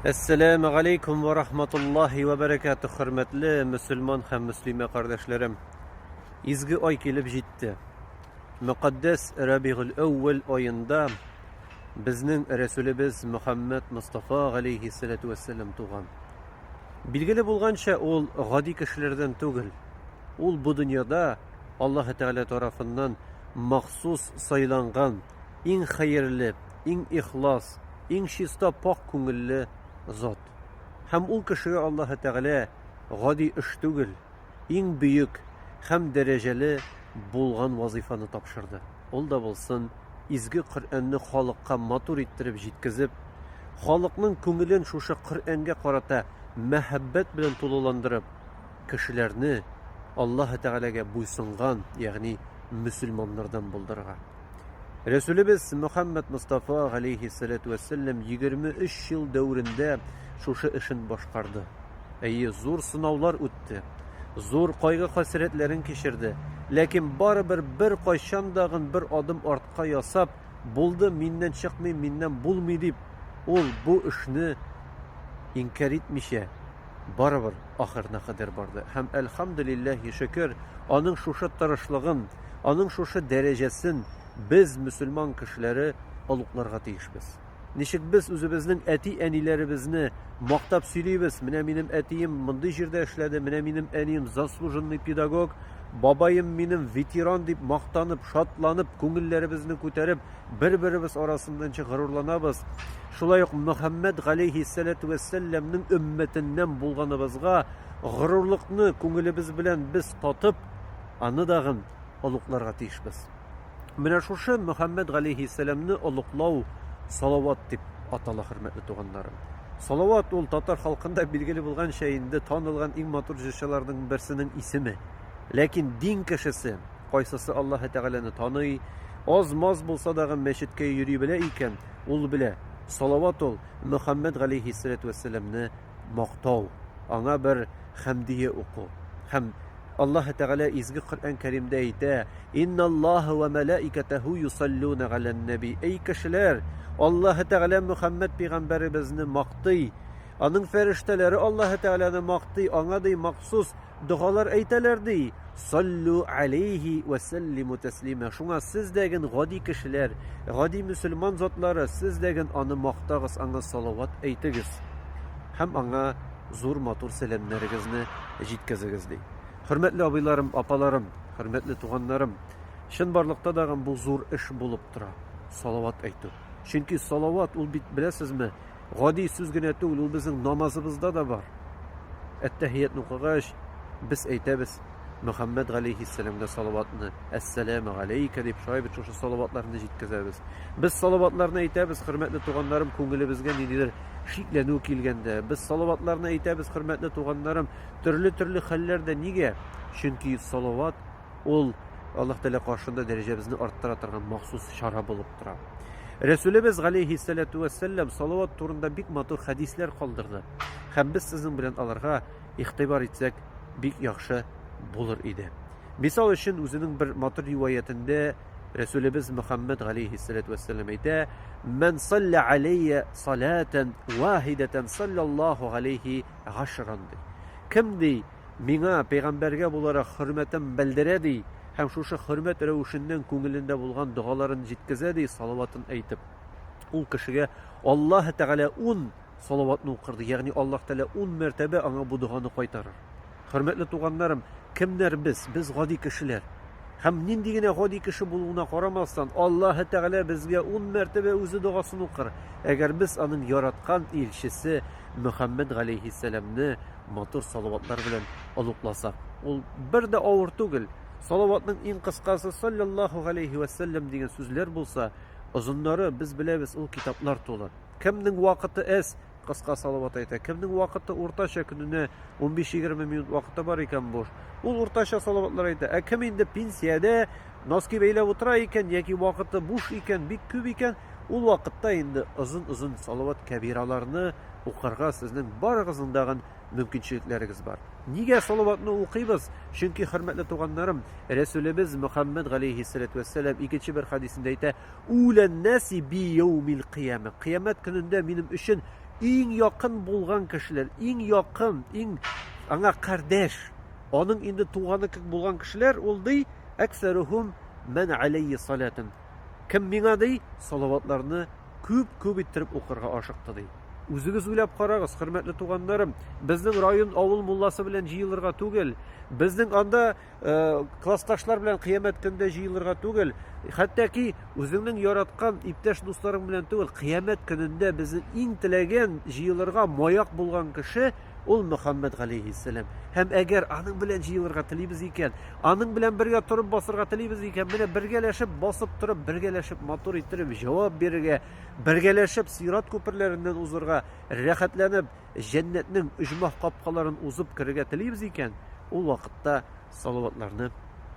Әссәләмә галейкум ва рахматуллахи ва бәрәкәтү, хөрмәтле мөселман һәм мөслимә кардәшләрем. Изге ай килеп җитте. Мөкаддәс Рабигуль әүвәл аенда безнең Рәсүлебез Мөхәммәд Мустафа галейһи салату вассалам туган. Билгеле булганча, ул гади кешеләрдән түгел. Ул бу дөньяда Аллаһ Тәгалә тарафыннан махсус сайланган иң хәерле, иң ихлас, иң чиста пакь күңелле зат. Һәм ул кешегә Аллаһы Тәгалә гади эш түгел, иң бөек һәм дәрәҗәле булган вазыйфаны тапшырды. Ул да булсын, изге Коръәнне халыкка матур иттереп җиткезеп, халыкның күңелен шушы Коръәнгә карата мәһаббәт белән тулыландырып, кешеләрне Аллаһы Тәгаләгә буйсынган, ягъни мөселманнардан булдырырга. Рәсүлебез Мөхәммәд Мустафа галейһи салату вәссәлам 23 ел дәверендә шушы эшен башкарды. Әйе, зур сынаулар үтте, зур кайгы-хәсрәтләрен кичерде, ләкин барыбер бер кайчан да гын бер адым артка ясап, булды, миннән чыкмый, миннән булмый дип, ул бу эшне инкәр итмичә, барыбер ахырына кадәр барды. Һәм әлхәмдулиллаһи шөкер, аның шушы тырышлыгын, Аның шушы дәрәҗәсен без, мөселман кешеләре, олугларга тиешбез. Ничек без үзебезнең әти-әниләребезне мактап сөйлибез, менә минем әтием мондый җирдә эшләде, менә минем әнием заслуженный педагог, бабаем минем ветеран дип мактанып, шатланып, күңелләребезне күтәреп, бер-беребез арасында ничек горурланабыз. Шулай ук Мөхәммәд галәйһиссәләту вәссәламнең өммәтеннән булганыбызга горурлыкны күңелебез белән без татып, Аны дагын олугларга тиешбез. Менә шушы Мөхәммәд галәйһиссәламне олуглау салават дип атала, хөрмәтле туганнарым. Салават ул татар халкында билгеле булганча инде танылган иң матур җырчыларның берсенең исеме. Ләкин дин кешесе кайсысы Аллаһы Тәгаләне таный, аз-маз булса дагы мәчеткә йөри белә икән, ул белә, салават ул Мөхәммәд галәйһиссәләтү вәссәламне мактау, аңа бер хәмдие уку. Һәм Аллаһ Тәгалә изге Коръән Кәримдә әйтә: "Инналлаһа ва малаикатаху юсаллуна галән наби". Эй кешеләр, Аллаһ Тәгалә Мөхәммәд пәйгамбәребезне мактый. Аның фәрештәләре Аллаһ Тәгаләне мактый, аңа ди махсус Догалар әйтәләр, ди, Саллю алейһи вә сәллиму тәслимә. Шуңа сез дә ген гади кешеләр, гади мөселман затлары, сез дә ген аны мактагыз, аңа салават әйтегез һәм аңа зур матур сәламнәрегезне җиткезегез, ди. Хөрмәтле абыйларым, апаларым, хөрмәтле туганнарым, чынбарлыкта да ген бу зур эш булып тора, салават әйтү. Чөнки салават ул бит беләсезме, гади сүз генә түгел, ул безнең намазыбызда да бар. Әттәһиятне укыгач, без әйтәбез Мөхәммәд галәйһиссәламгә салаватны, әссәламу галәйкә дип шулай бит шушы салаватларны җиткезәбез. Без салаватларны әйтәбез, хөрмәтле туганнарым, күңелебезгә ниндидер шикләнү килгәндә. Без салаватларны әйтәбез, хөрмәтле туганнарым, төрле-төрле хәлләрдә. Нигә? Чөнки салават Ул Аллаһ Тәгалә каршында дәрәҗәбезне арттыра торган махсус чара булып тора. Рәсүлебез галәйһиссәләтү вәссәлам салават турында бик матур хәдисләр калдырды. Һәм без сезнең белән аларга игътибар итсәк, бик яхшы булыр иде. Мисал өчен, үзенең бер матур риваятендә Рәсүлебез Мөхәммәд галәйһиссәләтү вәссәлам әйтә: "Ман салла алейя салатан вахидатан саллаллаху алейхи гашран". Кем ди Миңа, пәйгамбәргә буларак, хөрмәтен белдерә, ди, һәм шушы хөрмәт рәвешеннән күңелендә булган догаларын җиткезә, ди, салаватын әйтеп. Ул кешегә Аллаһы Тәгалә ун салаватны укырды, ягъни Аллаһ Тәгалә ун мәртәбә аңа бу доганы кайтарыр. Хөрмәтле туганнарым, кемнәр без? Без гади кешеләр. Һәм нинди генә гади кеше булуына карамастан, Аллаһы Тәгалә безгә ун мәртәбә үзе догасын укыр, әгәр без аның яраткан илчесе Мөхәммәд галәйһиссәламне матур салаватлар белән оныкласак, ул бер дә авыр түгел. Салаватның иң кыскасы саллаллаху алейхи ва саллям дигән сүзләр булса, озыннары без беләбез, ул китаплар тулы. Кемнең вакыты әз, кыска салават әйтә, кемнең вакыты уртача көненә 15-20 минут вакыты бар икән буш, ул уртача салаватлар әйтә. Ә кем инде пенсиядә носки бәйләп утыра икән яки вакыты буш икән, бик күп икән, Ул вакытта инде озын-озын салават кәбираларны укырга сезнең барыгызның да мөмкинчелекләрегез бар. Нигә салаватны укыйбыз? Чөнки, хөрмәтле туганнарым, Рәсүлебез Мөхәммәд галәйһиссәләтү вәссәлам икенче бер хәдисендә әйтә, Уләннәси би яумил кыяма. Кыямәт көнендә минем өчен иң якын булган кешеләр, иң якын, иң аңа кардәш, аның инде туганы кебек булган кешеләр ул ди, әксәрухум мән аләйи салатун. Кем миңа ди, салаватларны күп-күп иттереп укырга ашыкты ди. Үзегез уйлап карагыз, хөрмәтле туганнарым, безнең район авыл мулласы белән җыелырга түгел, безнең анда э, классташлар белән кыямәт көндә җыелырга түгел, хәтта ки үзеңнең яраткан иптәш дусларың белән түгел, кыямәт көнендә безнең иң теләгән җыелырга маяк булган кеше Ул Мөхәммәд галәйһиссәлам. Һәм әгәр аның белән җыелырга телибез икән, аның белән бергә торып басырга телибез икән, менә бергәләшеп басып торып, бергәләшеп матур иттереп җавап бирергә, бергәләшеп сират күперләреннән узырга, рәхәтләнеп җәннәтнең оҗмах капкаларын узып керергә телибез икән, ул вакытта салаватларны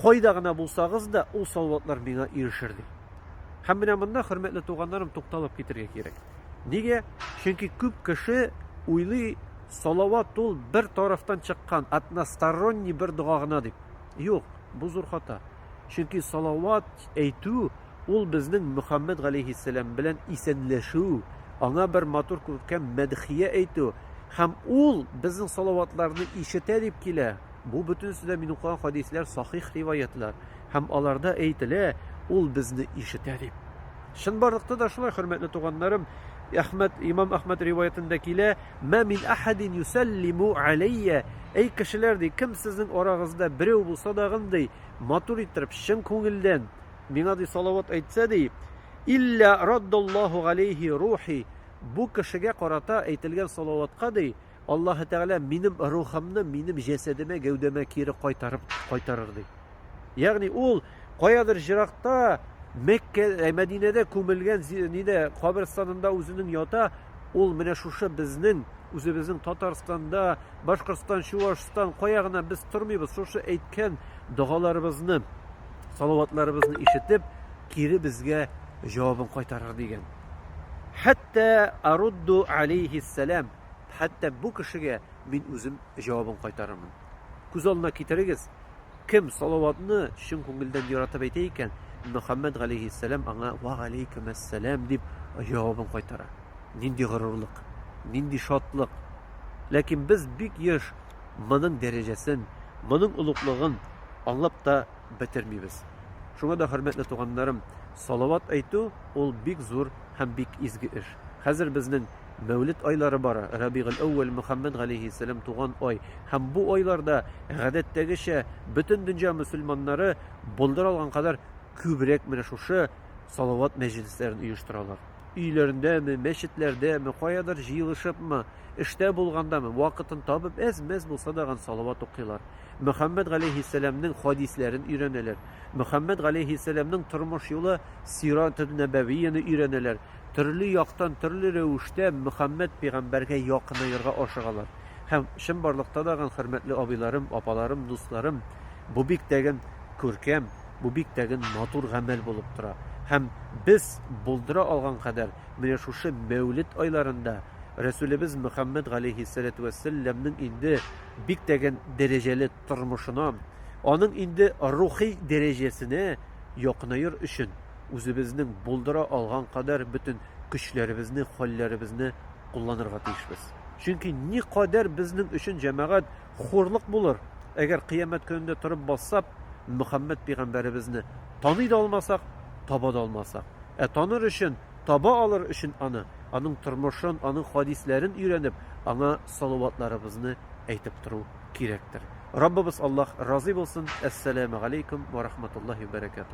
Кайда гына булсагыз да, ул салаватлар миңа ирешер, ди. Һәм менә монда, хөрмәтле туганнарым, тукталып китергә кирәк. Нигә? Чөнки күп кеше уйлый, салават ул бер тарафтан чыккан, односторонний бер дога гына дип. Юк, бу зур хата. Чөнки салават әйтү ул безнең Мөхәммәд галәйһиссәлам белән исәнләшү, аңа бер матур күркәм мәдхия әйтү һәм ул безнең салаватларны ишетә дип килә. Бу бөтенесе дә мин укыган хәдисләр сахих риваятлар һәм аларда әйтелә, ул безне ишетә дип. Чынбарлыкта да шулай, хөрмәтле туганнарым, Әхмәд, имам Әхмәд риваятендә килә, "Мә мин ахадин юсаллиму алейя", әй кешеләр ди, кем сезнең арагызда берәү булса дагын ди, матур иттереп, чын күңелдән миңа ди салават әйтсә ди, илля раддаллаху алейхи рухи, бу кешегә карата әйтелгән салаватка ди, Аллаһы Тәгалә минем рухымны минем җәсәдемә, гәүдәмә кире кайтарып кайтарыр, ди. Ягъни ул каядыр җыракта Мәккә, ә, Мәдинәдә күмелгән зи- нидә каберстанында үзенең ята, ул менә шушы безнең, үзебезнең Татарстанда, Башкортстан, Чувашстан, кая гына без тормыйбыз, шушы әйткән догаларыбызны, салаватларыбызны ишетеп, кире безгә җавабын кайтарыр, дигән. Хәтта Арудду алейһиссәлам. хәтта бу кешегә мин үзем җавабын кайтарырмын. Күз алдына китерегез, кем салаватны чын күңелдән яратып әйтә икән, Мөхәммәд галәйһиссәлам аңа ва галәйкүм әссәлам дип җавабын кайтара. Нинди горурлык, нинди шатлык. Ләкин без бик еш моның дәрәҗәсен, моның олуглыгын аңлап та бетермибез. Шуңа да, хөрмәтле туганнарым, салават әйтү ул бик зур һәм бик изге эш. Хәзер безнең Мәүлид айлары бара, Рабигель-әүвәл, Мөхәммәд галәйһиссәлам туган ай. Һәм бу айларда, гадәттәгечә, бөтен дөнья мөселманнары булдыра алган кадәр күбрәк менә шушы салават мәҗлесләрен оештыралар. Өйләрендәме, мәчетләрдәме, каядыр җыелышыпмы, эштә булгандамы, вакытын табып, әз-мәз булса да ган салават укыйлар. Мөхәммәд галәйһиссәламнең хадисләрен өйрәнәләр. Мөхәммәд галәйһиссәламнең тормыш юлы Сират-ел-Нәбәвияне өйрәнәләр. Төрле яктан, төрле рәвештә Мөхәммәд пәйгамбәргә якынаерга ашыгалар. Һәм, чынбарлыкта да гын хөрмәтле абыйларым, апаларым, дусларым, бу бик тә гын күркәм, бу бик тә гын матур гамәл булып тора. Һәм без булдыра алган кадәр менә шушы Мәүлет айларында Рәсүлебез Мөхәммәд галәйһиссәләтү вәссәлләмнең инде бик тә гын дәрәҗәле тормышына, аның инде рухи дәрәҗәсенә якынаер өчен, үзебезнең булдыра алган кадәр бөтен көчләребезне, хәлләребезне кулланырга тиешбез. Чөнки никадәр безнең өчен җәмәгать хурлык булыр, әгәр кыямәт көнендә торып бассап, Мөхәммәд пигамбәребезне таный да алмасак, таба да алмасак. Ә таныр өчен, таба алыр өчен аны, аның тормышын, аның хадисләрен өйрәнеп, аңа салаватларыбызны әйтеп тору кирәктер. Раббыбыз Аллаһ разый булсын. Әссәламу алейкум ва рахматуллаһи ва баракатуһ.